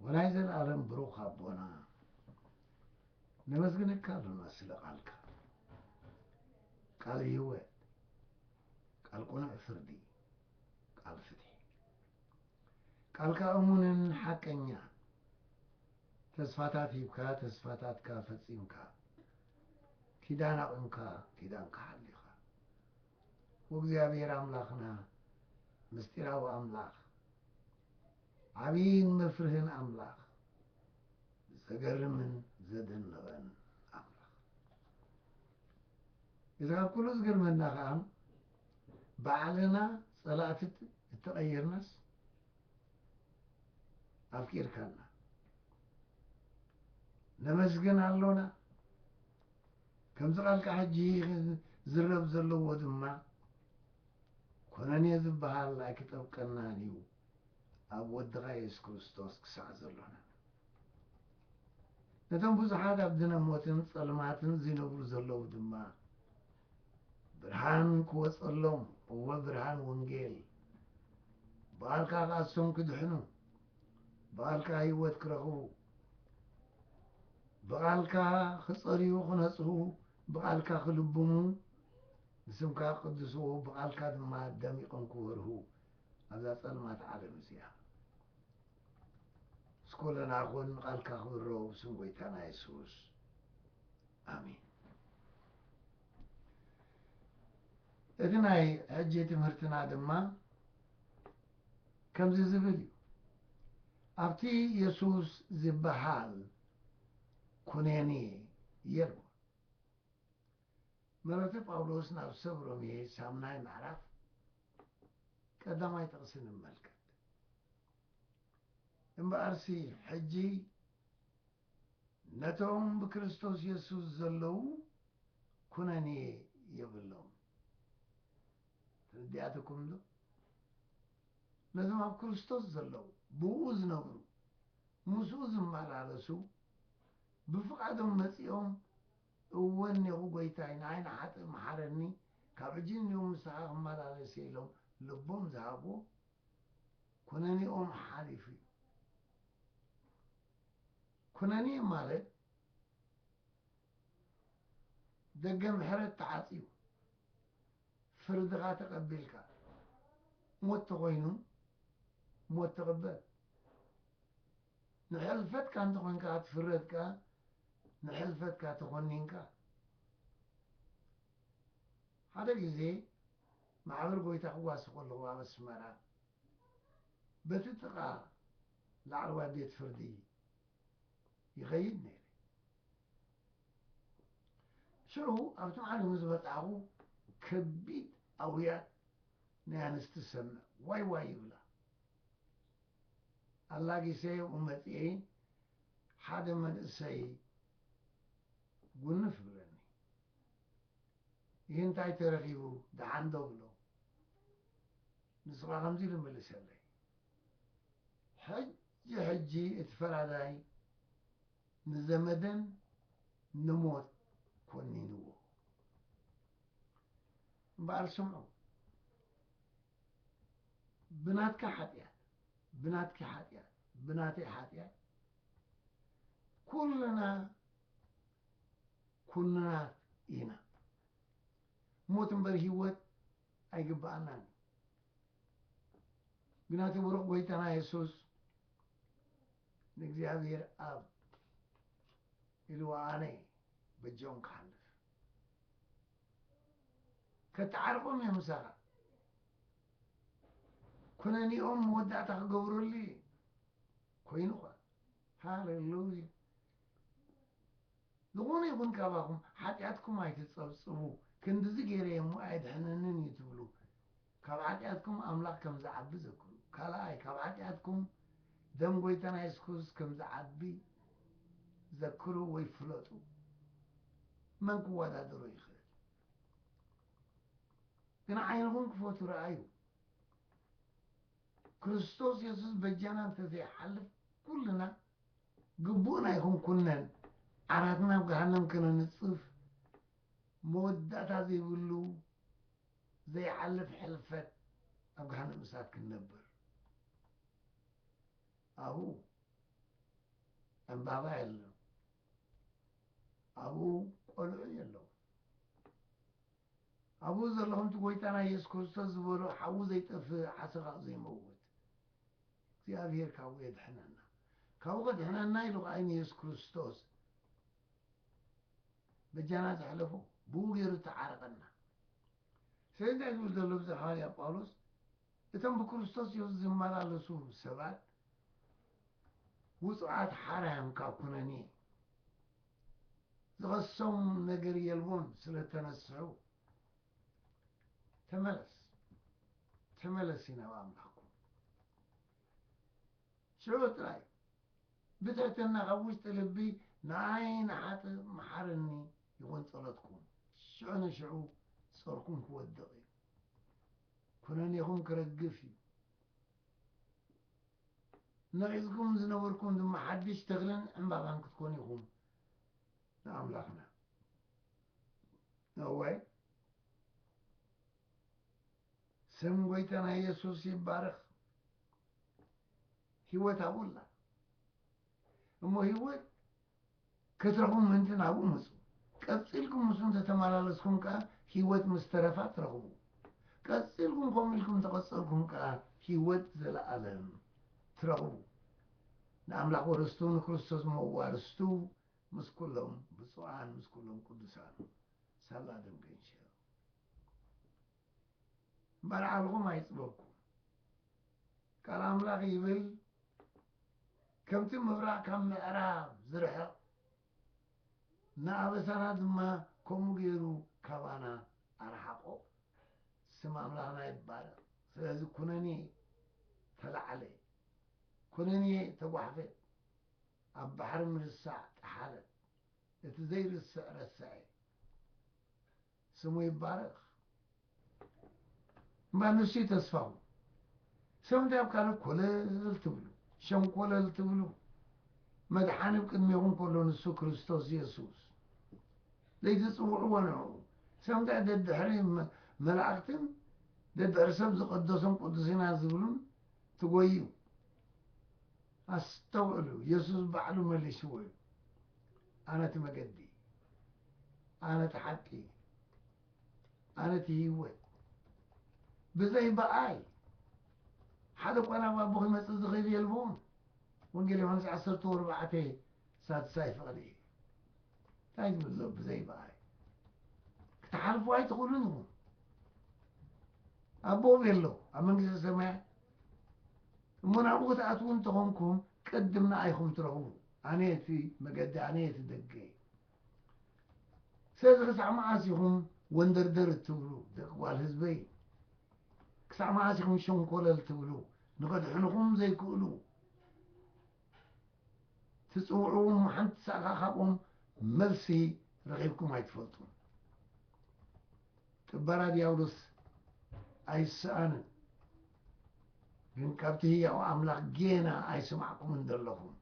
ወላይ ዘልኣለም ብሩኽ ኣቦና ነመስግነካ ኣሎና ስለ ቃልካ ቃል ህይወት ቃል ቁኑዕ ፍርዲ ቃል ፍትሒ ቃልካ እሙንን ሓቀኛ ተስፋታት ሂብካ ተስፋታትካ ፈጺምካ ኪዳን ኣቕምካ ኪዳንካ ሓሊኻ ወእግዚኣብሔር ኣምላኽና ምስጢራዊ ኣምላኽ ዓብይን መፍርህን ኣምላኽ ዘገርምን ዘደንቕን ኣምላኽ እዚ ካብ ኩሉ ዝገርመና ከዓ ባዕልና ጸላእቲ እተቐየርናስ ኣፍቂርካና ነመስግን ኣሎና ከምዚ ቃልቃ ሕጂ ክዝረብ ዘለዎ ድማ ኮነኔ ዝበሃል ኣይክጠብቀናን እዩ ኣብ ወድኻ የሱስ ክርስቶስ ክሳዕ ዘሎና። ነቶም ብዙሓት ኣብ ድነ ሞትን ጸልማትን ዚነብሩ ዘለዉ ድማ ብርሃን ክወጸሎም እወ ብርሃን ወንጌል ብኣልካ ክኣስቶም ክድሕኑ ብቓልካ ህይወት ክረኽቡ፣ ብቓልካ ክጸርዩ ክነጽሁ፣ ብቓልካ ክልብሙ፣ ንስምካ ክቅድስዎ፣ ብቓልካ ድማ ደሚቕም ክበርሁ ኣብዛ ጸልማት ዓለም እዚኣ። ምስ ኩልና ኩን፣ ቓልካ ክብረው ብስም ጎይታና የሱስ ኣሜን። እቲ ናይ ሕጂ ትምህርትና ድማ፣ ከምዚ ዝብል እዩ፣ ኣብቲ የሱስ ዚብሃል ኵነኔ የልቦን። መልእኽቲ ጳውሎስ ናብ ሰብ ሮሜ ሻምናይ ምዕራፍ ቀዳማይ ጥቕሲ ንመልከት። እምበኣርሲ ሕጂ ነቶም ብክርስቶስ የሱስ ዘለዉ ኵነኔ የብሎምን። ተረዲኣትኩም'ዶ? ነዞም ኣብ ክርስቶስ ዘለዉ፣ ብእኡ ዝነብሩ፣ ምስኡ ዝመላለሱ፣ ብፍቓዶም መጺኦም እወ እኔኹ ጐይታይ፣ ንዓይ ንሓጥእ መሓረኒ፣ ካብ ሕጂ ንኔኡ ምሳኻ ክመላለስ'የ ኢሎም ልቦም ዝሃብዎ፣ ኵነኔኦም ሓሊፉ'ዩ። ኵነኔ ማለት ደገ ምሕረት ተዓጽዩ፣ ፍርድኻ ተቐቢልካ ሞት ተኾይኑ ሞት ተቐበል። ንሕልፈትካ እንተኾይንካ ክትፍረድ ከኣ ንሕልፈትካ ተኾኒንካ። ሓደ ግዜ ማሕበር ጎይታ ክጓሲ ከለኹ ኣብ ኣስመራ በቲ ጥቓ ላዕለዋይ ቤት ፍርዲ ይኸይድ ነይረ። ሽዑ ኣብቲ ማዕዶ ዝበጻሕኩ ከቢድ ኣውያት ናይ ኣንስቲ ሰምዕ፣ ዋይ ዋይ ይብላ ኣላጊሰየኡ መጺኤ ሓደ መንእሰይ ጉንፍ ይብለኒ ይህ እንታይ ተረኺቡ ደሓን ዶ እብሎ ንስኻ ከምዚ ኢሉ መለሰለይ ሕጂ ሕጂ እቲ ፈራዳይ ንዘመደን ንሞት ኮኒንዎ። እምበኣር ስምዑ፣ ብናትካ ሓጢኣት፣ ብናትኪ ሓጢኣት፣ ብናተይ ሓጢኣት ኩልና ኩንናት ኢና። ሞት እምበር ህይወት ኣይግብኣናን እዩ ግና እቲ ብሩኽ ጐይታና የሱስ ንእግዚኣብሄር ኣብ ኢልዎ ኣነ በጃኦም ክሓልፍ ከተዓርቆም እዮም ምሳኻ ኩነኔኦም መወዳእታ ክገብረሉ እዩ ኮይኑ ኸ ሃሌሉያ ዝኾነ ይኹን ካባኹም ሓጢኣትኩም ኣይትጸብጽቡ፣ ክንድዚ ገይረ እየ እሞ ኣየድሕነንን እዩ ትብሉ፣ ካብ ሓጢኣትኩም ኣምላኽ ከም ዝዓቢ ዘክሩ። ካልኣይ፣ ካብ ሓጢኣትኩም ደም ጐይታና የሱስ ክርስቶስ ከም ዝዓቢ ዘክሩ ወይ ፍለጡ። መን ክወዳደሮ ይኽእል? ግን ዓይንኹም ክፈቱ ረኣዩ። ክርስቶስ የሱስ በጃና እንተዘይሓልፍ ኩልና ግቡእና ኣይኮንኩነን ዓራትና ኣብ ገሃነም ከነንጽፍ መወዳእታ ዘይብሉ ዘይሓልፍ ሕልፈት ኣብ ገሃነም እሳት ክንነብር ኣብኡ ዕምባባ የለን ኣብኡ ቆልዑ የለዉ ኣብኡ ዘለኹም እቲ ጎይታና ኢየሱስ ክርስቶስ ዝበሎ ሓዊ ዘይጠፍእ ዓሰካኡ ዘይመውት እግዚኣብሔር ካብኡ የድሕነና ካብኡ ከድሕነና ኢሉ ከኣ ንኢየሱስ ክርስቶስ በጃና ዘሕለፎ ብኡ ገይሩ ዝተዓረቀና ስለዚ እንታይ ዝብል ዘሎ ብዚ ሃዋርያ ጳውሎስ እቶም ብክርስቶስ ኢየሱስ ዝመላለሱ ሰባት ውጹዓት ሓራዮም ካብ ኩነኔ ዝኸሶም ነገር የልቦን ስለ ተነስሑ ተመለስ ተመለሲ ናብ ኣምላኽኩም ሽዑ ጥራይ ብትሕትና ካብ ውሽጢ ልቢ ንዓይ ንሓጥእ መሓረኒ ይኹን ጸሎትኩም ሽዑ ንሽዑ ጾርኩም ክወድቕ እዩ ኩነኔኹም ክረግፍ እዩ መሪጽኩም ዝነበርኩም ድማ ሓድሽ ተኽልን ዕምባባን ክትኮኑ ኢኹም ንኣምላኽና እወ ስም ጎይታና የሱስ ይባረኽ ህይወት ኣብኡላ እሞ ህይወት ክትረኽቡ ምእንቲ ናብኡ ምጹ። ቀጺልኩም ምስኡ እንተ ተመላለስኩም ከኣ ህይወት ምስ ተረፋ ትረኽቡ። ቀጺልኩም ከምኡ ኢልኩም እንተ ቐጸልኩም ከኣ ህይወት ዘለኣለም ትረኽቡ። ንኣምላኽ ወረስቱ ንክርስቶስ መዋርስቱ ምስ ኩሎም ብጹኣን ምስ ኩሎም ቅዱሳን። ሳላ ደምገንሸል። መርዓልኹም ኣይጽበብኩም ቃል ኣምላኽ ይብል ከምቲ ምብራቕ ካብ ምዕራብ ዝርሕቕ ንኣበሳና ድማ ከምኡ ገይሩ ካባና ኣርሓቆ ስም ኣምላኽና ይባረኽ ስለዚ ኩነኔ ተላዕለ ኩነኔ ተጓሕፈት ኣብ ባሕሪ ምርሳዕ ጠሓለት እቲ ዘይርስዕ ረሰዐ ስሙ ይባረኽ እምበር ንሱ'ዩ ተስፋኡ። ሰብ እንታይ ኣብ ካልእ ኮለል ትብሉ፣ ሸንኮለል ትብሉ፣ መድሓኒ ኣብ ቅድሜኹም ከሎ ንሱ ክርስቶስ የሱስ ዘይትጽውዕዎ ንዕኡ ሰብ እንታይ ደድሕሪ መላእኽትን ደድሕሪ ሰብ ዝቐደሱን ቅዱስ ኢና ዝብሉን ትጎዩ። ኣስተውዕሉ፣ የሱስ ባዕሉ መሊስዎ እዩ፣ ኣነ እቲ መገዲ፣ ኣነ እቲ ሓቂ፣ ኣነ እቲ ህይወት፣ ብዘይ ብኣይ ሓደ እኳ ናብ ኣቦ ኺመጽእ ዝኽእል የልቦን። ወንጌል ዮሃንስ ዓሰርተ ወርባዕተ ሳድሳይ ፍቕዲ እዩ። እንታይ ዝብል ዘሎ ብዘይ ብኣይ ክትሓልፉ ኣይትኽእሉን ኢኹም። ኣቦ ቤሎ ኣብ መንግስተ ሰማያት እሞ ናብኡ ክትኣትዉ እንተኾንኩም ቅድም ንኣይ ኢኹም ትረኽቡ ኣነ እቲ መገዲ ኣነ እቲ ደገ እየ ስለዚ ክሳዕ መዓስ ኢኹም ወንደርደር እትብሉ ደቂ ጓል ህዝበይ ክሳዕ መዓስ ኢኹም ሸንኮለል ትብሉ ንኸድሕንኹም ዘይክእሉ ትጽውዕዎም እሞ ሓንቲ ሳእኻ ካብኦም መልሲ ረኺብኩም ኣይትፈልጡን። ጥበራ ድያብሎስ ኣይስኣንን። ግን ካብቲ ህያው ኣምላኽ ጌና ኣይሰማዕኩምን ዘለኹም።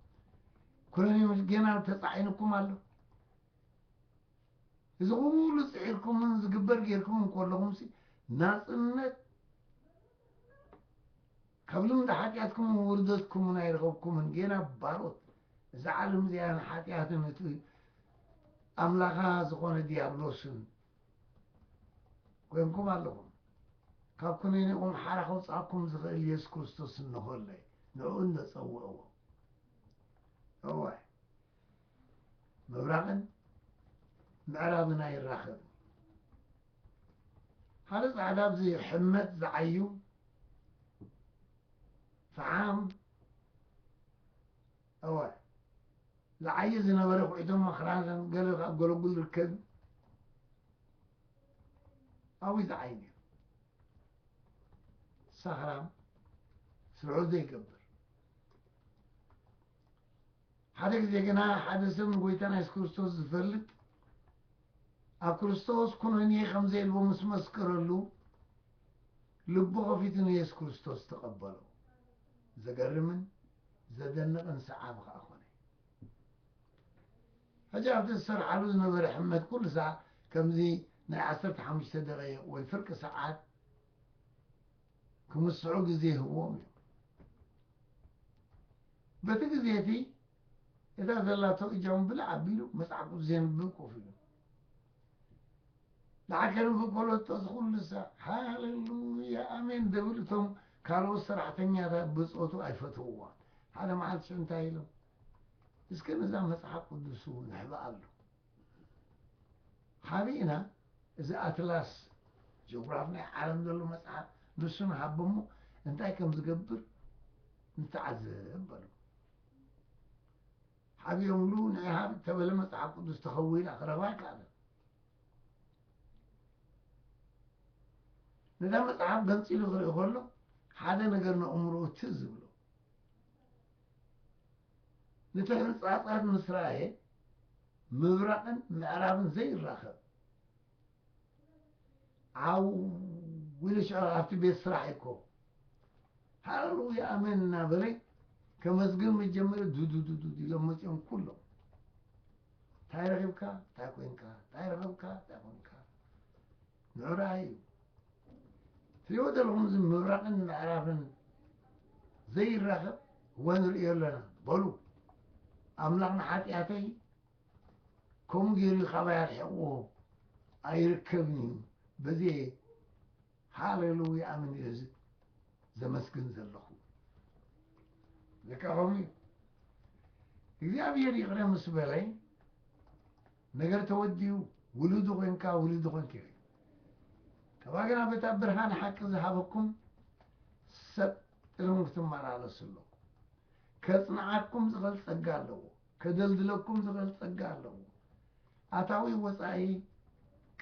ኩነኔውስ ጌና ተጻዒኑኩም ኣሎ። እዚ ኩሉ ጽዒርኩምን ዝግበር ጌርኩምን ከለኹምሲ ናጽነት ካብ ልምዲ ሓጢኣትኩምን ውርደትኩምን ኣይረኸብኩምን፣ ጌና ባሮት እዛ ዓለም እዚኣን ሓጢኣትን እቲ ኣምላኻ ዝኾነ ድያብሎስን ኮይንኩም ኣለኹም። ካብ ኩነኔኹም ሓራ ከውጽኣኩም ዝኽእል የሱስ ክርስቶስ እንሆ እለ፣ ንዕኡ እንዶ ጸውዕዎ። እወ። ምብራቕን ምዕራብን ኣይራኸብን ሓደ ጻዕዳ ኣብዚ ሕመት ዝዓዩ ፈሓም እወ ዝዓየ ዝነበረ ኩዒቶም መክራን ገለ ካብ ገለጉል ርከብ ኣብይ ዝዓይ ነይሩ ሳኽራም ስርዑ ዘይገብር ሓደ ግዜ ግና ሓደ ሰብ ንጐይታና የሱስ ክርስቶስ ዝፈልጥ ኣብ ክርስቶስ ኩነኔ ከም ዘየልቦ ምስ መስከረሉ ልቡ ከፊቱ ንየሱስ ክርስቶስ ተቐበሎ። ዘገርምን ዘደንቕን ሰዓቢ ከኣ ኮነ። ሕጂ ኣብቲ ዝሰርሓሉ ዝነበረ ሕመት ኩሉ ሰዓት ከምዚ ናይ ዓሰርተ ሓሙሽተ ደቂቕ ወይ ፍርቂ ሰዓት ክምስሑ ግዜ ይህብዎም እዩ። በቲ ግዜ እቲ እታ ዘላቶ እጃም ብልዕ ኣቢሉ መጽሓፍ ቅዱስ ዜንብብ ኮፍ ኢሉ ንዓ ከንብብ ከሎ እዚ ኩሉ ሰ ሃሌሉያ ኣሜን ደብል እቶም ካልኦት ሰራሕተኛታት ብጾቱ ኣይፈትውዋ ሓደ መዓልቲ ሽዑ እንታይ ኢሎም እስከ ነዛ መጽሓፍ ቅዱሱ ንሕብኣሉ ሓቢእና እዚ ኣትላስ ጂኦግራፍ ናይ ዓለም ዘሎ መጽሓፍ ንሱ ንሃቦ እሞ እንታይ ከም ዝገብር ንተዓዘብ በሉ። ሓቢኦምሉ ናይ ሃብ ተበለ መጽሓፍ ቅዱስ ተኸዊላ ክረኽባ ኣይከኣለን። ነታ መጽሓፍ ገንፂሉ ክርኢ ከሎ ሓደ ነገር ንእምርኡ ትዝ ዝብሎ ንተሕንጻጻር ምስ ረኣየ ምብራቕን ምዕራብን ዘይራኸብ ዓው ኢሉ ሸ ኣብቲ ቤት ስራሕ እኮ ሃለሉያ ኣሜን እናበለ ከመስግን ምስ ጀመረ ዱዱዱዱ ኢሎም መፅኦም ኩሎም እንታይ ረኺብካ እንታይ ኮንካ እንታይ ረኸብካ እንታይ ኮንካ ምዕራይ እዩ ትሪእዎ ዘለኹም እዚ ምብራቕን ምዕራብን ዘይራኸብ እዋን ንርእዮ ኣለና በሉ ኣምላኽ ንሓጢኣተይ ከምኡ ገይሩ ካባይ ኣርሒቕዎ ኣይርከብን እዩ በዚ ሃሌሉያ ኣምን እዩ እዚ ዘመስግን ዘለኹ ልካ ከምኡ እዩ እግዚኣብሔር ይቕረ ምስ በለይ ነገር ተወዲኡ ውሉዱ ኮንካ ውሉዱ ኮንኪ ሪኢ ከባ ግና በታ ብርሃን ሓቂ ዝሃበኩም ሰብ ጥርም ክትመላለሱ ኣለኩም ከጽንዓኩም ዝኽእል ጸጋ ኣለዎ ከደልድለኩም ዝኽእል ጸጋ ኣለዎ ኣታዊ ወጻኢ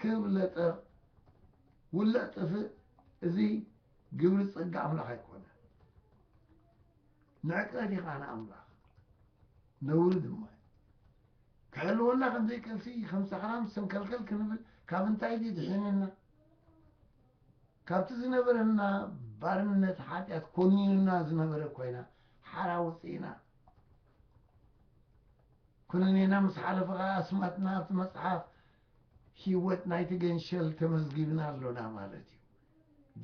ክብ ለጠቕ ውልዕ ጥፍእ እዚ ግብሪ ጸጋ ኣምላኽ ኣይኮነ ንዕቀት ኢኻ ንኣምላኽ ነውሪ ድማ ክሕልወና ከምዘይክእልሲ ከም ሰኽራም ሰንከልከል ክንብል ካብ እንታይ ድዩ ድሒንና? ካብቲ ዝነበረና ባርነት ሓጢኣት ኮኒኑና ዝነበረ ኮይና ሓራ ወፂእና ኩነኔና ምስ ሓለፈ ከዓ ኣስማትና ኣብቲ መፅሓፍ ህይወት ናይቲ ገንሸል ተመዝጊብና ኣሎና ማለት እዩ።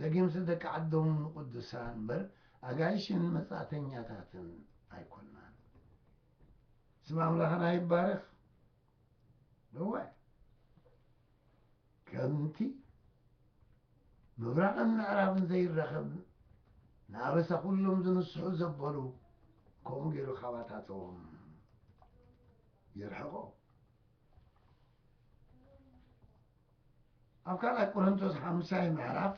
ደጊምሲ ደቂ ዓዶም ንቅዱሳን እምበር ኣጋይሽን መጻእተኛታትን ኣይኮናን። ስም ኣምላኽና ይባረኽ እዋይ ከምቲ ምብራቕን ምዕራብን ዘይራኸብ ንኣበሳ ኩሎም ዝንስሑ ዘበሉ ከምኡ ገይሩ ካባታቶም የርሕቆ ኣብ ካልኣይ ቆረንቶስ ሓምሳይ ምዕራፍ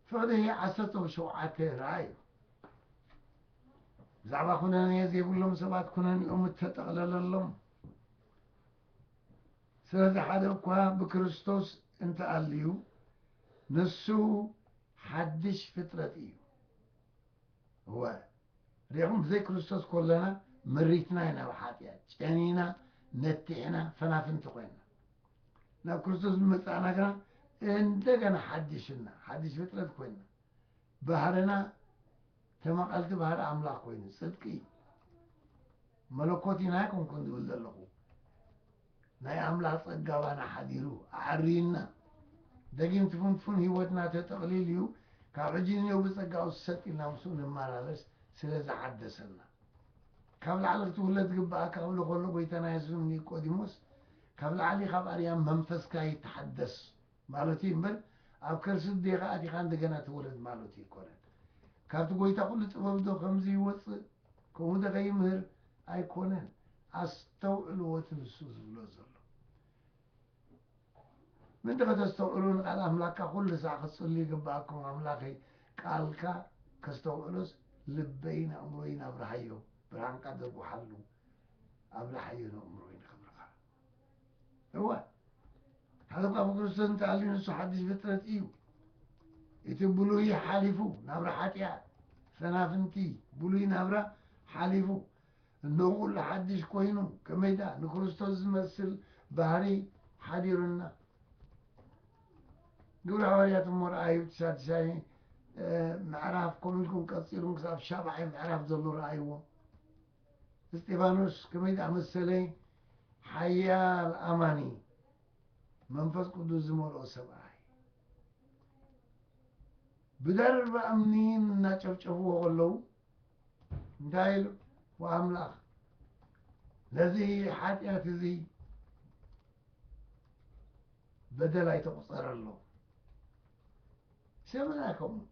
ፍቕዲ ዓሰርተው ሸውዓተ ረኣዩ ብዛዕባ ኩነኔ ዘይብሎም ሰባት ኩነኔኦም እተጠቕለለሎም ስለዚ ሓደ እኳ ብክርስቶስ እንተኣልዩ ንሱ ሓድሽ ፍጥረት እዩ እወ ሪኢኹም ብዘይ ክርስቶስ ኮሎና መሪትና ኢና ኣብ ሓጥያት ጨኒና ነቲሕና ፈናፍንቲ ኮይና ናብ ክርስቶስ ብመጻእና ግና እንደገና ሓዲሽና ሓዲሽ ፍጥረት ኮይና ባህርና ተመቐልቲ ባህሪ ኣምላኽ ኮይኑ ጽድቂ መለኮት ኢና ይኮንኩን ዝብል ዘለኹ ናይ ኣምላኽ ጸጋ ኣባና ሓዲሩ ኣዐርዩና ደጊም ትፍንትፉን ሕይወትና ተጠቕሊል እዩ ካብ ሕጂ ንኔው ብጸጋኡ ስሰጥ ኢልና ምስኡ ንማላለስ ስለ ዝሓደሰና ካብ ላዕሊ ክትውለድ ዝግብኣካ ክብሎ ከሎ ጐይታና የሱስ ንኒቆዲሞስ ካብ ላዕሊ ካብ ኣርያም መንፈስካ ይተሓደስ ማለቱ እዩ እምበር ኣብ ከርሲ እዴኻ ኣቲኻ እንደገና ተወለድ ማለቱ ኣይኮነን ካብቲ ጐይታ ኩሉ ጥበብዶ ከምዚ ይወጽእ ከምኡ ንከይምህር ኣይኮነን ኣስተውዕልዎ እቲ ንሱ ዝብሎ ዘሎ ምእንቲ ከተስተውዕሉ ንቃል ኣምላካ ኩሉ ሳዕ ክትጽልዩ ይግበኣኩም ኣምላከይ ቃልካ ከስተውዕሎስ ልበይን ኣእምሮይን ኣብርሃዮ ብርሃንካ ደጉሓሉ ኣብላሓዮ ነእምሮይ ንክብርካ። እወ ሓደ እኳ ብክርስቶስ እንተሃልዩ ንሱ ሓድሽ ፍጥረት እዩ እቲ ብሉይ ሓሊፉ ናብራ ሓጢኣት ሰናፍንቲ ብሉይ ናብራ ሓሊፉ እነሆ ኩሉ ሓድሽ ኮይኑ ከመይዳ ንክርስቶስ ዝመስል ባህሪ ሓዲሩና ግብረ ሃዋርያት እሞ ረኣዩ ትሻትሻይ ምዕራፍ ከምኡ ኢልኩም ቀፂሉም ክሳብ ሻብዓይ ምዕራፍ ዘሎ ረኣይዎ እስጢፋኖስ ከመይ ዝኣመሰለ ሓያል ኣማኒ መንፈስ ቅዱስ ዝመልኦ ሰብኣይ ብደርባ እምኒ እናጨፍጨፍዎ ከለዉ እንታይ ኢሉ ወኣምላኽ ነዚ ሓጢኣት እዚ በደል ኣይተቑፀረሎ ሰብና ከምኡ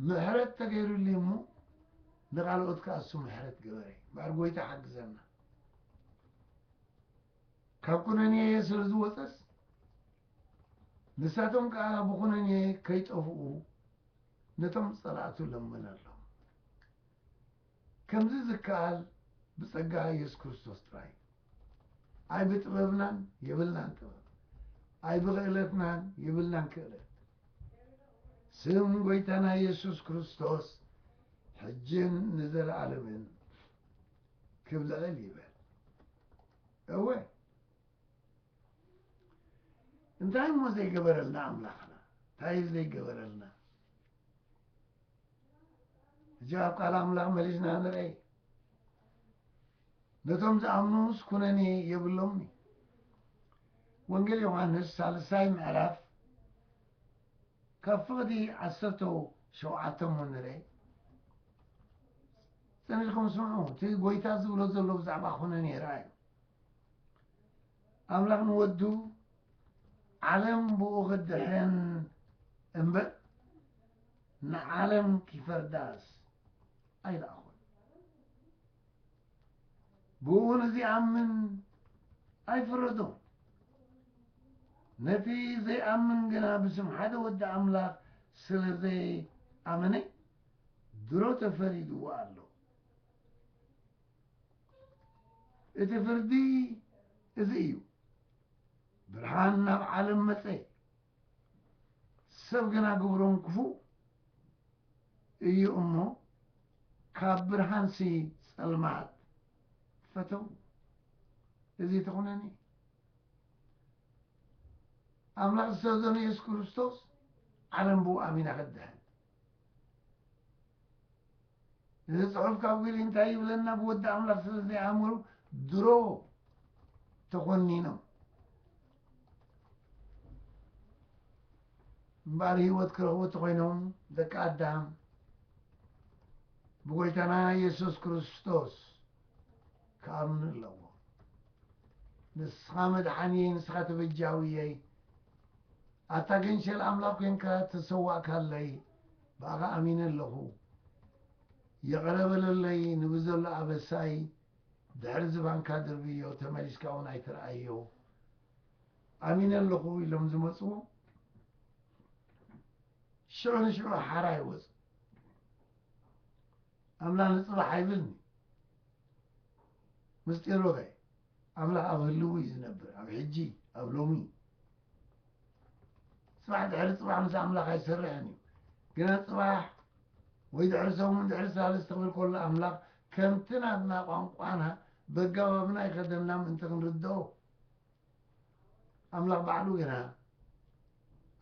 ምሕረት ተገይሩልይ እሞ ንካልኦት ከኣ እሱ ምሕረት ግበረ እምበኣር ጎይታ ሓግዘና ካብ ኩነኔየ ስለ ዝወፀስ ንሳቶም ከኣ ብኩነኔየ ከይጠፍኡ ነቶም ፀላእቱ ለምነሎም ከምዚ ዝከኣል ብጸጋ የሱስ ክርስቶስ ጥራይ እዩ። ኣይብጥበብናን የብልናን ጥበብ፣ ኣይብኽእለትናን የብልናን ክእለት። ስም ጎይታና የሱስ ክርስቶስ ሕጅን ንዘለኣለምን ክብ ልዕል ይበል። እወ እንታይ እሞ ዘይገበረልና ኣምላኽና፣ እንታይ እዩ ዘይገበረልና? ሕጂ ኣብ ቃል ኣምላኽ መሊስና ንርኣይ። ነቶም ዝኣምኑስ ኩነኔ የብሎምኒ። ወንጌል ዮሓንስ ሳልሳይ ምዕራፍ ካብ ፍቕዲ ዓሰርተ ሸውዓተ እሞ ንርኣይ። ጽኒልኩም ስምዑ፣ እቲ ጐይታ ዝብሎ ዘሎ ብዛዕባ ኩነኔ ርኣዩ። ኣምላኽ ንወዱ ዓለም ብኡ ክትድሕን እምበር ንዓለም ኪፈርዳስ ኣይለኣኾን። ብኡ ንዚኣምን ኣይፈረዶን። ነቲ ዘይኣምን ግና ብስም ሓደ ወዲ ኣምላኽ ስለ ዘይኣመነ ድሮ ተፈሪድዎ ኣሎ። እቲ ፍርዲ እዚ እዩ። ብርሃን ናብ ዓለም መጸ፣ ሰብ ግና ግብሮም ክፉእ እዩ እሞ፣ ካብ ብርሃንሲ ጸልማት ፈተዉ። እዚ ተኹነኒ እዩ። ኣምላኽ ዝተወደነ የሱስ ክርስቶስ ዓለም ብኡ ኣሚና ክትድሕን እዚ ጽሑፍ ካብ ግሊ እንታይ ይብለና ብወዲ ኣምላኽ ስለ ዘይኣመሩ ድሮ ተኾኒኖም እምበኣር ህይወት ክረኽቡ ተኾይኖም ደቂ ኣዳም ብጎይታና የሱስ ክርስቶስ ክኣምኑ ኣለዎ ንስኻ መድሓንየይ ንስኻ ተበጃውየይ ኣታ ገንሸል ኣምላኽ ኮንካ ተሰዋእካለይ ብኣኻ ኣሚነ ኣለኹ ይቕረ በለለይ ንብዘሎ ኣበሳይ ድሕሪ ዝባንካ ድርብዮ ተመሊስካ ውን ኣይትርኣዮ ኣሚነ ኣለኹ ኢሎም ዝመጹ ሽዑ ንሽዑ ሓራ ይወጹ ኣምላ ንጽባሕ ኣይብልኒ ምስጢሩ ኸ ኣምላኽ ኣብ ህልዊ እዩ ዝነብር ኣብ ሕጂ ኣብ ሎሚ ጽባሕ ድሕሪ ጽባሕ ምስ ኣምላኽ ኣይሰርሕን እዩ ግና ጽባሕ ወይ ድሕሪ ሰሙን ድሕሪ ሳልስቲ ክብል ከሎ ኣምላኽ ከምቲ ናትና ቋንቋና በጋባብና ይኸደና ምእንቲ ክንርድኦ ኣምላኽ ባዕሉ ግና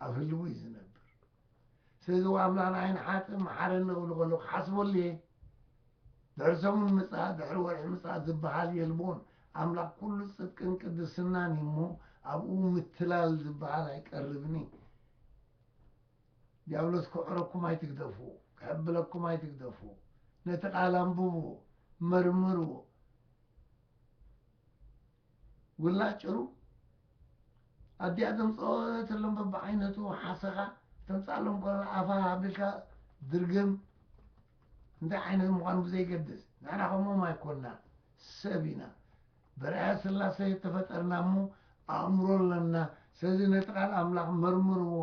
ኣብ ህልዊ እዩ ዝነብር ስለዚ ዋእ ኣምላኽ ንዓይ ንሓጥእ መሓረኒ እብሎ ከለኹ ክሓስበሉ እየ። ድሕሪ ሰሙን ምጽኣት ድሕሪ ወርሒ ምጽኣት ዝበሃል የልቦን። ኣምላኽ ኩሉ ጽድቅን ቅድስናን እዩ እሞ ኣብኡ ምትላል ዝበሃል ኣይቀርብን እዩ። ዲያብሎስ ክዕረኩም ኣይትግደፉ፣ ክሕብለኩም ኣይትግደፉ። ነቲ ቃል ኣንብብዎ፣ መርምርዎ። ውላድ ጭሩ ኣዲኣ ተምጽኦ ተሎም በብዓይነቱ ሓሰኻ ተምጽኣሎም ኮላ ኣፋ ሃብልካ ድርግም እንታይ ዓይነት ምዃኑ ብዘይገድስ ንሕና ከምኦም ኣይኮንና ሰብ ኢና በርዐ ስላሰ የተፈጠርና እሞ ኣእምሮ ኣለና ስለዚ ነቲ ቃል ኣምላኽ መርምርዎ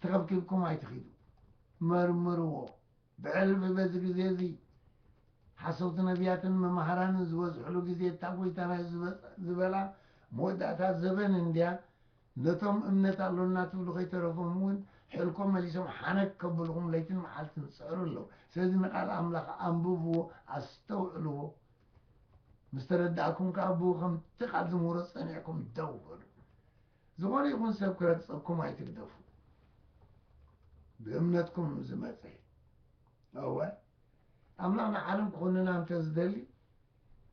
ተኸብኪብኩም ኣይትኺዱ መርምርዎ ብዕርቢ በዚ ግዜ እዚ ሓሰውቲ ነብያትን መማህራንን ዝበዝሕሉ ግዜ እታ ጎይታ ናይ ዝበላ መወዳእታ ዘበን እንድያ ነቶም እምነት ኣሎና ትብሉ ከይተረፎም እውን ሕልኮም መሊሶም ሓነክ ከብልኹም ለይትን መዓልትን ዝጽዕሩ ኣለዉ ስለዚ ንቃል ኣምላኽ ኣንብብዎ ኣስተውዕልዎ ምስ ተረዳእኩም ከኣ ብኡ ከምቲ ቃል ዝምህሮ ጸኒዕኩም ደው በሉ ዝኾነ ይኹን ሰብ ክረግጸኩም ኣይትግደፉ። ብእምነትኩም ዝመጸ እወ ኣምላኽ ንዓለም ክኹንና እንተ ዝደሊ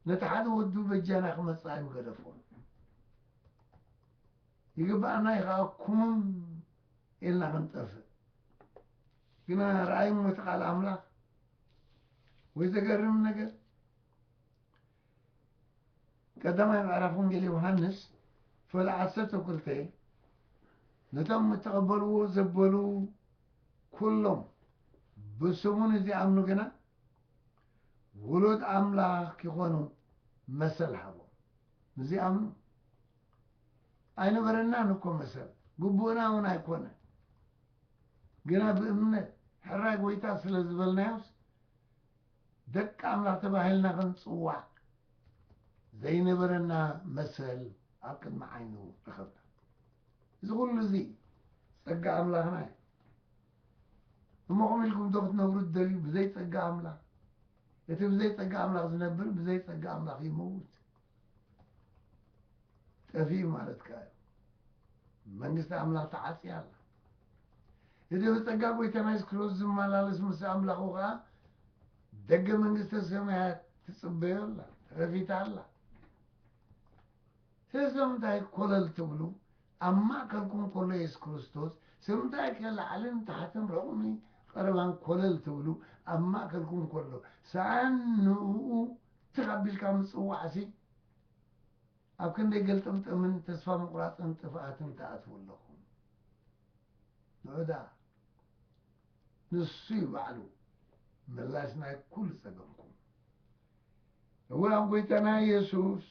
ነቲ ሓደ ወዱ በጃና ክመጽእ ኣይምገደፎ። ይግብኣና ይኸኣ ኩምም ኢልና ክንጠፍእ ግና ረኣይሞ እቲ ቃል ኣምላኽ ወይ ዘገርም ነገር ቀዳማይ ምዕራፍ ወንጌል ዮሃንስ ፈል ዓሰርተ ክልተ ነቶም እተቐበልዎ ዘበሉ ኩሎም ብስሙ ንዚኣምኑ ግና ውሉድ ኣምላኽ ኪኾኑ መሰል ሃቦም ንዚኣምኑ ኣይነበረናን እኮ መሰል ግቡእና እውን ኣይኮነ ግና ብእምነት ሕራይ ጎይታ ስለ ዝበልናዮስ ደቂ ኣምላኽ ተባሂልና ክንጽዋዕ ዘይነበረና መሰል ኣብ ቅድሚ ዓይኑ ረኸብና። እዚ ኩሉ እዚ ጸጋ ኣምላኽና እዩ። እሞ ከምኡ ኢልኩም ዶ ክትነብሩ ትደልዩ ብዘይ ጸጋ ኣምላኽ? እቲ ብዘይ ጸጋ ኣምላኽ ዝነብር ብዘይ ጸጋ ኣምላኽ ይመውት። ጠፊኡ ማለት ከኣ እዩ መንግስቲ ኣምላኽ ተዓጽያ ኣላ እቲ ብጸጋ ጐይታና የሱስ ክርስቶስ ዝመላለስ ምስ ኣምላኹ ከኣ ደገ መንግስተ ሰማያት ትጽበዮ ኣላ ተኸፊታ ኣላ ስለዚ ስለምንታይ ኮለል ትብሉ ኣብ ማእከልኩም ከሎ የሱስ ክርስቶስ ስለምንታይ ከ ላዕልን ታሕትን ርቕሚ ቐረባን ኮለል ትብሉ ኣብ ማእከልኩም ከሎ ሰኣን ንኡ ትኽ ኣቢልካ ምጽዋዕሲ ኣብ ክንደይ ገልጥምጥምን ተስፋ ምቑራጽን ጥፍኣትን ትኣትዉ ኣለኹም። ብዕዳ ንሱ'ዩ ባዕሉ ምላሽ ናይ ኩሉ ጸገምኩም። እወ ኣብ ጎይታና የሱስ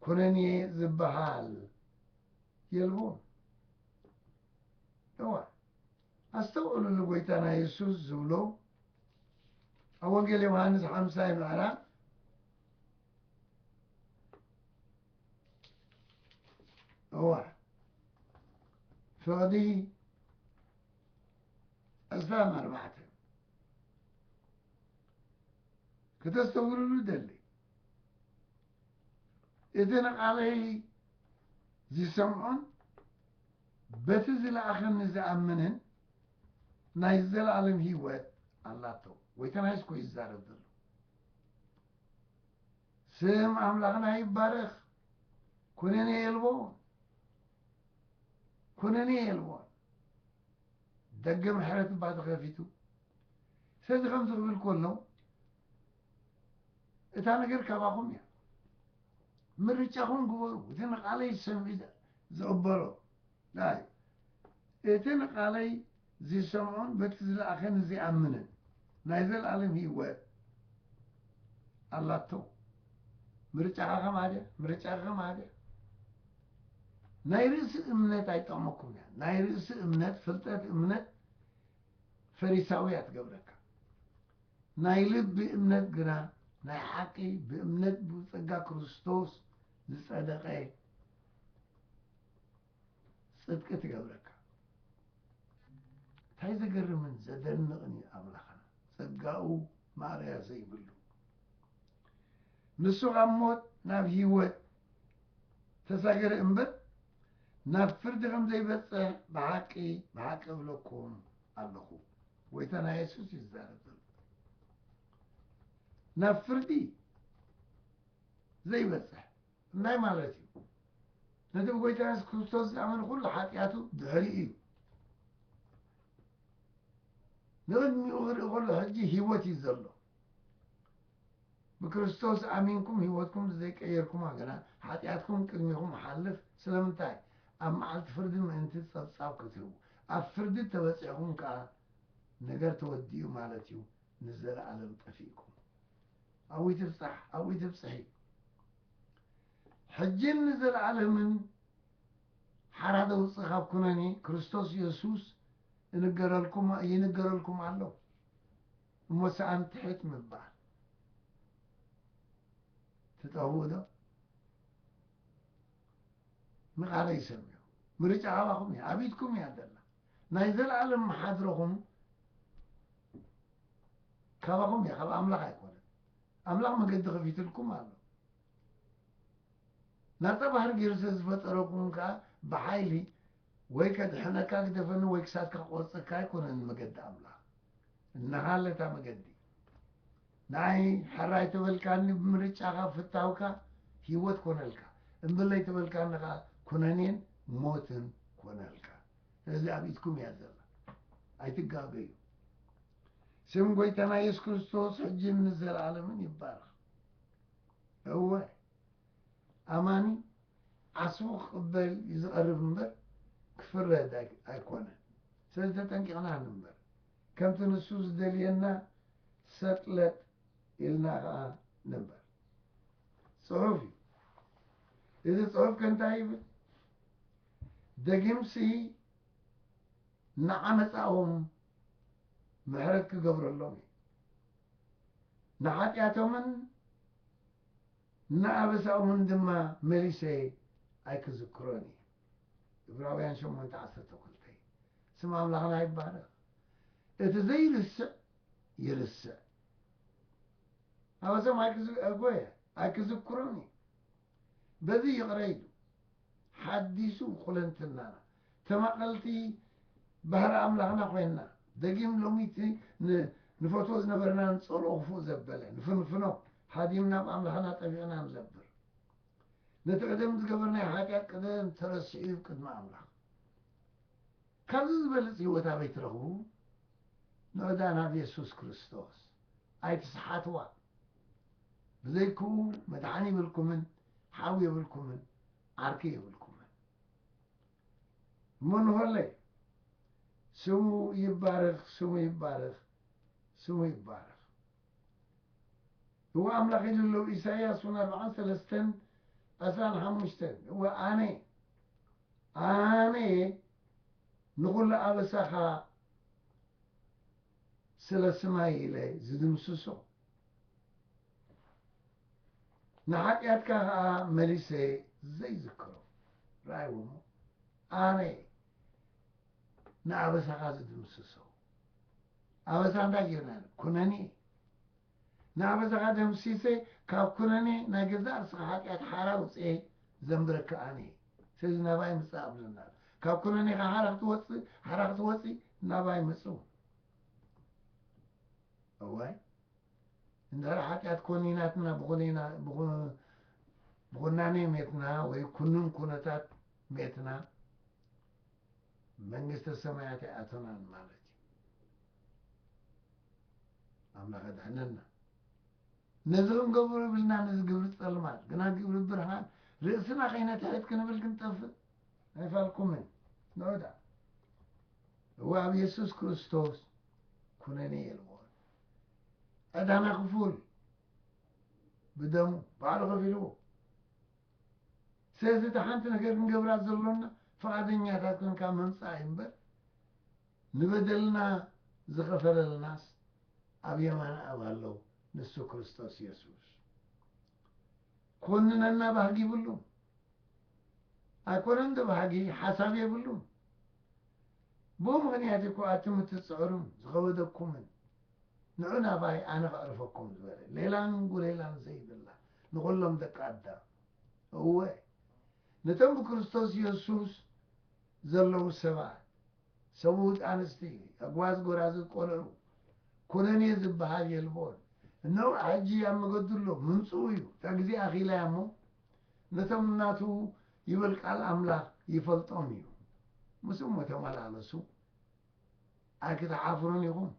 ኩነኔ ዝበሃል የልቦን። እወ። ኣስተውዕሉሉ ጎይታና የሱስ ዝብሎ ኣብ ወንጌል ዮውሃንስ ሓምሳይ ምዕራፍ እዋ ፍቕዲ ዕስራን ኣርባዕተን ክተስተውዕሉሉ ደሊ እቲ ንቓለይ ዝሰምዖን በቲ ዝለኣኸኒ ዝኣምንን ናይ ዘለኣለም ህይወት ኣላቶ ወይ ተናይስ ኮይ ዝዛረብ ዘሎ ስም ኣምላኽና ይባረኽ ኩነኔ የልቦን ኩነኔ የልቦን ደገ ምሕረት እባ ተኸፊቱ ስለዚ ከምዚ ክብል ከሎ እታ ነገር ካባኹም እያ ምርጫኹም ግበሩ እቲ ንቓለይ ዝሰምዕ ዝቕበሎ ጥራይ እዩ እቲ ንቓለይ ዚሰምዖን በቲ ዝለኣኸኒ ዚኣምንን ናይ ዘለኣለም ህይወት ኣላቶ ምርጫኻ ከምኣ ድያ ምርጫኻ ከምኣ ድያ ናይ ርእሲ እምነት ኣይጠቕመኩምን እያ ናይ ርእሲ እምነት ፍልጠት እምነት ፈሪሳዊ እያ ትገብረካ ናይ ልቢ እምነት ግና ናይ ሓቂ ብእምነት ብጸጋ ክርስቶስ ዝጸደቐ ጽድቂ ትገብረካ። እንታይ ዘገርምን ዘደንቕን እዩ ኣምላኽና ጸጋኡ ማእለያ ዘይብሉ ንሱ ካብ ሞት ናብ ህይወት ተሳገረ እምበር ናብ ፍርዲ ከም ዘይበጽሕ ብሓቂ ብሓቂ እብለኩም ኣለኹ። ጎይታ ናይ የሱስ እዩ ዝዛረብ ዘሎ ናብ ፍርዲ ዘይበጽሕ እንታይ ማለት እዩ ነቲ ብጎይታ የሱስ ክርስቶስ ዝኣመን ኩሉ ሓጢኣቱ ድሕሪ እዩ ንቕድሚኡ ክርኢ ከሎ ሕጂ ህይወት እዩ ዘሎ ብክርስቶስ ኣሚንኩም ሕይወትኩም ዘይቀየርኩማ ግና ኃጢኣትኩም ቅድሚኹም ይኃልፍ፣ ስለምንታይ? ኣብ መዓልቲ ፍርዲ ምእንቲ ጸብጻብ ክትህቡ፣ ኣብ ፍርዲ እተበጺሕኩም ከኣ ነገር ተወዲኡ ማለት እዩ፣ ንዘለዓለም ጠፊእኩም። ኣብኡ ትብጻሕ፣ ኣብኡ ትብጽሒ። ሕጅን ንዘለዓለምን ሓራ ዘውጽእ ካብ ኩነኔ ክርስቶስ የሱስ እንገረልኩም ይንገረልኩም ኣሎ። እሞ ሰኣን ትሕት ምባል ትጠውኡ ዶ? ንቃለይ ሰምዑ ምርጫ ካባኹም እያ ኣብ ኢድኩም እያ ዘላ ናይ ዘልኣለም መሓድረኹም ካባኹም እያ ካብ ኣምላኽ ኣይኮነን ኣምላኽ መገዲ ከፊትልኩም ኣሎ ናጻ ባህር ገይሩ ስለ ዝፈጠረኩም ከዓ ብሓይሊ ወይ ከድሕነካ ግደፈኒ ወይ ክሳድካ ክቆርጸካ ኣይኮነን መገዲ ኣምላኽ እንሃለ እታ መገዲ ንኣይ ሕራይ ተበልካኒ ብምርጫኻ ፍታውካ ሂወት ኮነልካ እምብለይ ተበልካኒ ከኣ ኩነኔን ሞትን ኮነልካ ስለዚ ኣብ ኢድኩም እያ ዘላ ኣይትጋገዩ ስም ጎይታና የሱስ ክርስቶስ ሕጂን ንዘለኣለምን ይባረኽ እወ ኣማኒ ዓስቡ ክቕበል እዩ ዝቐርብ እምበር ክፍረድ ኣይኮነን። ስለዚ ተጠንቂቕና ንንበር። ከምቲ ንሱ ዝደልየና ሰጥ ለጥ ኢልና ከኣ ንንበር። ጽሑፍ እዩ። እዚ ጽሑፍ ከ እንታይ ይብል? ደጊምሲ ንዓመጻኦም ምሕረት ክገብረሎም እዩ ንሓጢኣቶምን ንኣበሳኦምን ድማ መሊሰ ኣይክዝክሮን እየ። ዕብራውያን ሸሞንተ ዓሰርተ ክልተ፣ ስም ኣምላኽና ይባረኽ። እቲ ዘይርስዕ ይርስዕ። ኣበሳኦም ኣይክዝ ኣጎየ ኣይክዝክሮን እየ። በዚ ይቕረ ኢሉ። ሓዲሱ ኩለንትናና ተማቐልቲ ባህሪ ኣምላኽና ኮይንና ደጊም ሎሚ እቲ ንፈትዎ ዝነበርና ንጸልኦ ክፉእ ዘበለ ንፍንፍኖ ሃዲምና ብ ኣምላኽና ጠቢቕና ንዘብር ነቲ ቅደም ዝገበርናዮ ሓጢኣት ቅደም ተረሲዑ እዩ ብ ቅድሚ ኣምላኽ ካብዚ ዝበልጽ ህይወት ኣበይ ትረኽቡ ንዕዳ ናብ የሱስ ክርስቶስ ኣይትስሓትዋ ብዘይክኡ መድሓኒ ይብልኩምን ሓው የብልኩምን ዓርኪ የብልኩምን መንሆለይ ስሙ ይባረክ ስሙ ይባረክ ስሙ ይባረክ እወ ኣምላክ ኢሉ ኣሎ ኢሳያስ ውን ኣርብዓን ሰለስተን ዕስራን ሓሙሽተን እወ ኣነ ኣነ ንኩሉ ኣበሳካ ስለ ስማይ ኢለ ዝድምስሶ ንሓጢኣትካ ኸኣ መሊሰ ዘይዝክሮ። ርኣይዎ እሞ ኣነ እየ ንኣበሳኻ ዝድምስሶ። ኣበሳ እንታይ ጌርና ኢና? ኩነኔ። ንኣበሳኻ ደምሲሰ ካብ ኩነኔ ናይ ገዛእ ርእስኻ ሓጢኣት ሓራ ኣውጽኤ ዘንብረካ ኣነ እየ። ስለዚ ናባይ ምጽእ ኣብለና ኣሎ። ካብ ኩነኔኻ ሓራ ክትወጽእ ሓራ ክትወጺ ናባይ ምጹ። እዋይ! እንድሕር ሓጢኣት ኮኒናትና ብኹናኔ ሜትና ወይ ኩኑን ኩነታት ሜትና መንግስተ ሰማያት ኣይኣቶናን ማለት እዩ ኣምላኽ ኣድሕነና ነዚ ክንገብሩ ብልና ነዚ ግብሪ ጸልማት ግና ግብሪ ብርሃን ርእስና ከይነትሕት ክንብል ክንጠፍእ ኣይፋልኩምን ንዑዳ እዋ ኣብ የሱስ ክርስቶስ ኩነኔ የልዎን ቀዳማይ ክፉል ብደሙ ባዕሉ ከፊልዎ ስለዚ እታ ሓንቲ ነገር ክንገብራ ዘሎና ፍቓደኛታት ኮንካ ምምፃእ እዩ እምበር ንበደልና ዝኸፈለልናስ ኣብ የማን ኣብ ኣለው ንሱ ክርስቶስ የሱስ ኮንነና ባህግ ይብሉም ኣይኮነን ዶ ብሓጊ ሓሳብ የብሉን ብኡ ምኽንያት ኢኮ ኣቲ ምትጽዕሩን ዝኸበደኩምን ንዑ ናባይ ኣነ ከዕርፈኩም ዝበለ ሌላን ጉሌላን ዘይብላ ንኹሎም ደቂ ኣዳም እወ ነቶም ብክርስቶስ የሱስ ዘለዉ ሰባት ሰብኡት ኣንስቲ ኣጓዝ ጎራዙት ቆልዑ ኩነኔ ዝበሃል የልቦን እነሆ ሕጂ ኣብ መገዱ ኣሎ ምምጽኡ እዩ እታ ግዜ ኣኺላ እያ እሞ ነቶም ናቱ ይብል ቃል ኣምላኽ ይፈልጦም እዩ ምስ እሞ ተመላለሱ ኣይክትሓፍሩን ኢኹም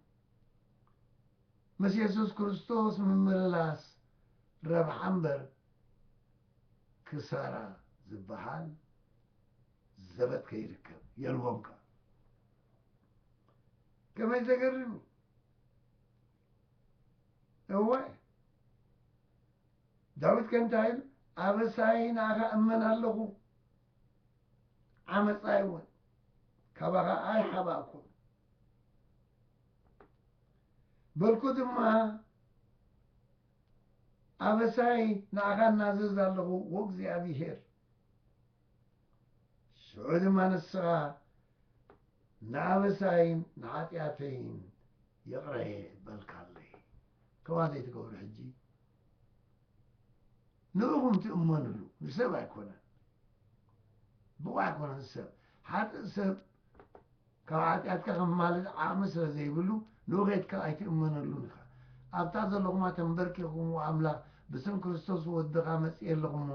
ምስ የሱስ ክርስቶስ ምምልላስ ረብሓ እምበር ክሳራ ዝበሃል ዘበት ከይርከብ የልቦም ከ ከመይ ዘገርም እዩ እወ ዳዊት ከንታይ ኢሉ ኣበሳይ ንኣኻ እመን ኣለኹ ዓመፃይ እውን ካባኻ ኣይሓባእኩን በልኩ ድማ ኣበሳይ ንኣኻ እናዘዝ ኣለኹ ወእግዚኣብሄር ሽዑ ድማ ንስኻ ንኣበሳይን ንሓጢኣተይን ይቕረ በልካለይ ከማ ዘይትገብሩ ሕጂ ንእኹም ትእመንሉ ንሰብ ኣይኮነን ብቑዕ ኣይኮነን ሰብ ሓጥእ ሰብ ካብ ሓጢኣትካ ከማልድ ዓቕሚ ስለ ዘይብሉ ንውኼትካ ኣይትእመነሉን ኢኻ። ኣብታ ዘለኹማ ተምበርኪኽኩም ኦ ኣምላኽ ብስም ክርስቶስ ወድኻ መጺኤ ኣለኹ እሞ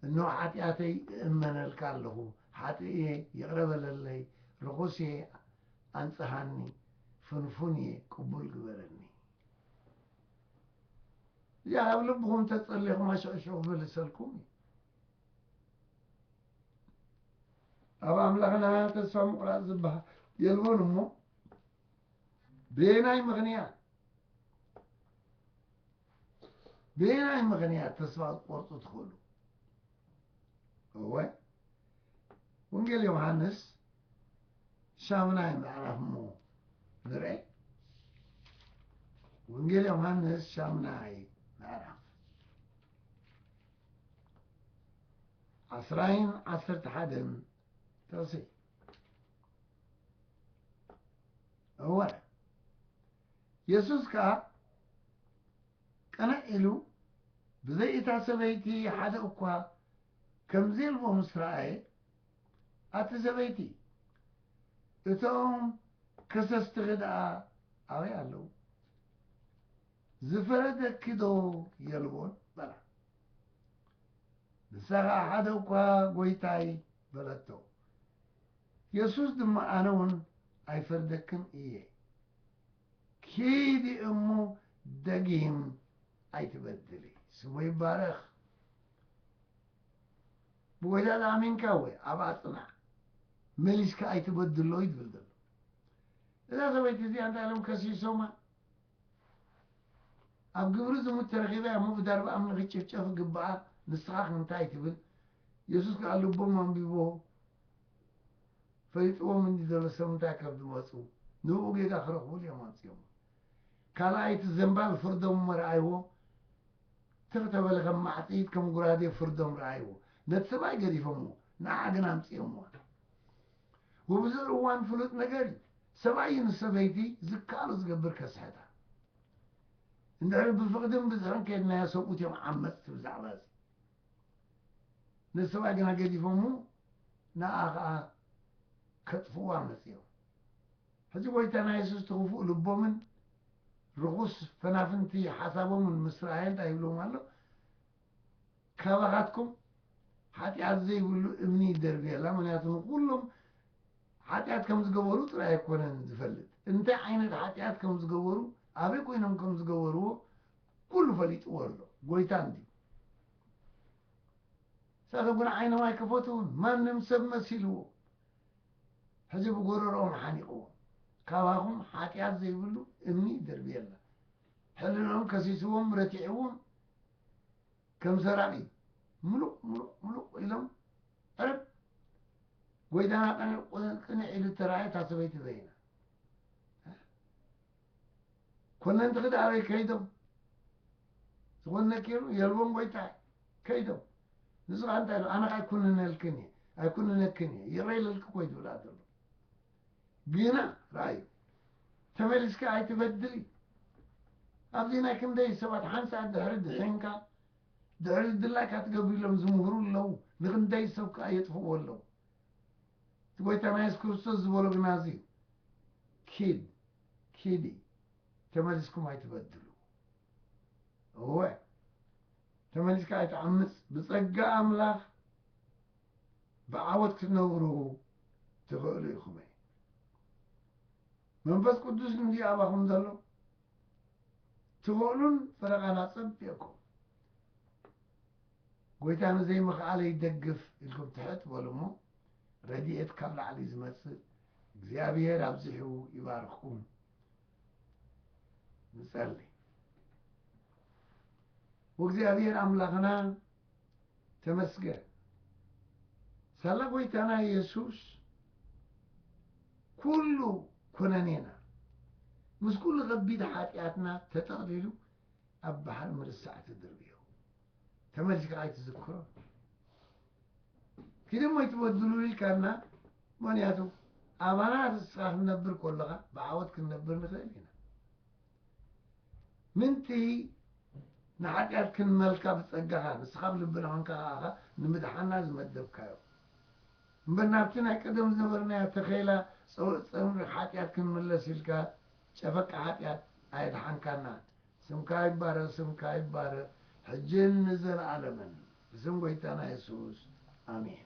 እንሆ ሓጢኣተይ እእመነልካ ኣለኹ ሓጥእ እየ ይቕረ በለለይ ርኹስ እየ ኣንጽሃኒ ፍንፉን እየ ቅቡል ግበረኒ እዚኣ ካብ ልብኹም ተጸሊኹማ ሽዑ ሽዑ ክምልሰልኩም እዩ። ኣብ ኣምላኽና ተስፋ ምቑራጽ ዝበሃል የልቦን እሞ በየናይ ምኽንያት በየናይ ምኽንያት ተስፋ ክትቆርጹ ትኽእሉ? እወ ወንጌል ዮሃንስ ሻምናይ ምዕራፍ እሞ ንርአ። ወንጌል ዮሃንስ ሻምናይ ምዕራፍ ዓስራይን ዓሰርተ ሓደን ጥቕሲ እወ የሱስ ከኣ ቅንዕ ኢሉ ብዘይ እታ ሰበይቲ ሓደ እኳ ከምዘየልቦ ምስ ረኣየ ኣቲ ሰበይቲ እቶም ከሰስትኺ ደኣ ኣበይ ኣለዉ ዝፈረደኪዶ የልቦን? በላ። ንሳ ኸኣ ሓደ እኳ ጐይታይ በለቶ። የሱስ ድማ ኣነውን ኣይፈርደክን እየ፣ ኪዲ እሞ ደጊም ኣይትበድሊ። ስሙ ይባረኽ። ብጐይታ ተኣሚንካ እወ፣ ኣብኣ ጽናዕ፣ መሊስካ ኣይትበድሎ እዩ ዝብል ዘሎ። እዛ ሰበይቲ እዚኣ እንታይ ኢሎም ከሲሶማ? ኣብ ግብሪ ዝሙት ተረኺባ እያ እሞ ብዳርባ ኣምኒ ክትጭፍጨፍ ግብኣ ንስኻ ከ እንታይ ትብል የሱስ ከኣ ልቦም ኣንቢቦ ፈሊጥዎም እንዲ ዘሎ ሰብ እንታይ ካብ ዝመጹ ንብኡ ጌጋ ክረኽቡሉ እዮም ኣምጺኦሞ ካልኣይ እቲ ዘንባል ፍርዶም እሞ ረኣይዎ ትኽ ተበለ ከም ማዕጺድ ከም ጉራዴ ፍርዶም ረኣይዎ ነቲ ሰብኣይ ገዲፎሞ ንዓ ግን ኣምጺኦምዋ ውብዙር እዋን ፍሉጥ ነገር እዩ ሰብኣይ ንሰበይቲ ዝከኣሎ ዝገብር ከስሕታ እንድሕር ብፍቕድን ብዝሕን ከድናዮ ሰብኡት እዮም ዓመፅቲ ብዛዕባ እዚ ነዚ ሰብኣይ ግና ገዲፎሙ ንኣ ከዓ ከጥፍዋ መፅኦም ሕዚ ጎይታና የሱስ ትኽፉእ ልቦምን ርኹስ ፈናፍንቲ ሓሳቦምን ምስ ረኣየ እንታይ ይብሎም ኣሎ ካባኻትኩም ሓጢኣት ዘይብሉ እምኒ ይደርብየላ፣ ምኽንያቱ ንኹሎም ሓጢኣት ከም ዝገበሩ ጥራይ ኣይኮነን ዝፈልጥ፣ እንታይ ዓይነት ሓጢኣት ከም ዝገበሩ፣ ኣበይ ኮይኖም ከም ዝገበርዎ ኩሉ ፈሊጥዎ ኣሎ፣ ጎይታ እንድዩ። ንሳቶም ግን ዓይኖም ኣይከፈቱን፣ ማንም ሰብ መሲልዎ፣ ሕጂ ብጎረርኦም ሓኒቕዎም፣ ካባኹም ሓጢኣት ዘይብሉ እምኒ ይደርብየላ። ሕልንኦም ከሲስዎም፣ ረቲዕዎም፣ ከም ዘራጊ ምሉቕ ምሉቕ ምሉቕ ኢሎም ዕርብ ጎይታና ቅንዕ ቁ- ቅንዕ ኢሉ እተራእየ እታ ሰበይቲ በይና ኮነንቲ ክደ ኣበይ ከይዶም ዝኾነ ነኪሩ የልቦም ጎይታ ከይዶም ንሱ ከዓ እንታይ ኢሉ ኣነ ከዓ ኣይኩንነልክን እየ ኣይኩንነክን እየ ይቕረ ኢለልኪ እኮ እዩ ዝብላ ዘሎ ግና ርኣዩ ተመሊስካ ኣይትበድሊ ኣብዚ ናይ ክንደይ ሰባት ሓንቲ ሰዓት ድሕሪ ድሒንካ ድሕሪ ዝድላካ ትገብር ኢሎም ዝምህሩ ኣለዉ ንክንደይ ሰብ ከዓ የጥፍእዎ ኣለዉ እቲ ጎይታና የሱስ ክርስቶስ ዝበሎ ግና እዚ እዩ ኪድ ኪዲ ተመሊስኩም ኣይትበድሉ እወ ተመሊስካ ኣይትዓምፅ ብፀጋ ኣምላኽ ብዓወት ክትነብሩ ትኽእሉ ኢኹም እዩ መንፈስ ቅዱስ እንድዩ ኣባኹም ዘሎ ትኽእሉን ፍረ ቃል ኣጸቢቕኩም ጎይታ ንዘይምኽኣለ ይደግፍ ኢልኩም ትሕት በሉ እሞ ረድኤት ካብ ላዕሊ ዝመጽእ እግዚኣብሔር ኣብዚሑ ይባርኽኩም ንጸሊ ወእግዚኣብሔር ኣምላኽና ተመስገን ሳላ ጎይታና የሱስ ኩሉ ኩነኔና ምስ ኩሉ ከቢድ ሓጢኣትና ተጠቕሊሉ ኣብ ባሕሪ ምርሳዕ ትድርብዮ ተመልስካ ኣይትዝክሮ ክደሞ ኣይትበድሉ ኢልካና ምክንያቱ ኣባና ርስኻ ክንነብር ከለኻ ብዓወት ክንነብር ንኽእል ኢና ምእንቲ ንሓጢኣት ክንመልካ ብጸጋኻ ንስኻ ኣብ ልብና ኮንካ ከኣ እኻ ንምድሓና ዝመደብካዮ እምበር ናብቲ ናይ ቀደም ዝነበርናዮ ተኼላ ጸውዒት ጸምሪ ሓጢኣት ክንምለስ ኢልካ ጨፈቃ ሓጢኣት ኣየድሓንካና ስምካ ይባረኽ ስምካ ይባረኽ ሕጅን ንዘለኣለምን ብስም ጎይታና የሱስ ኣሜን።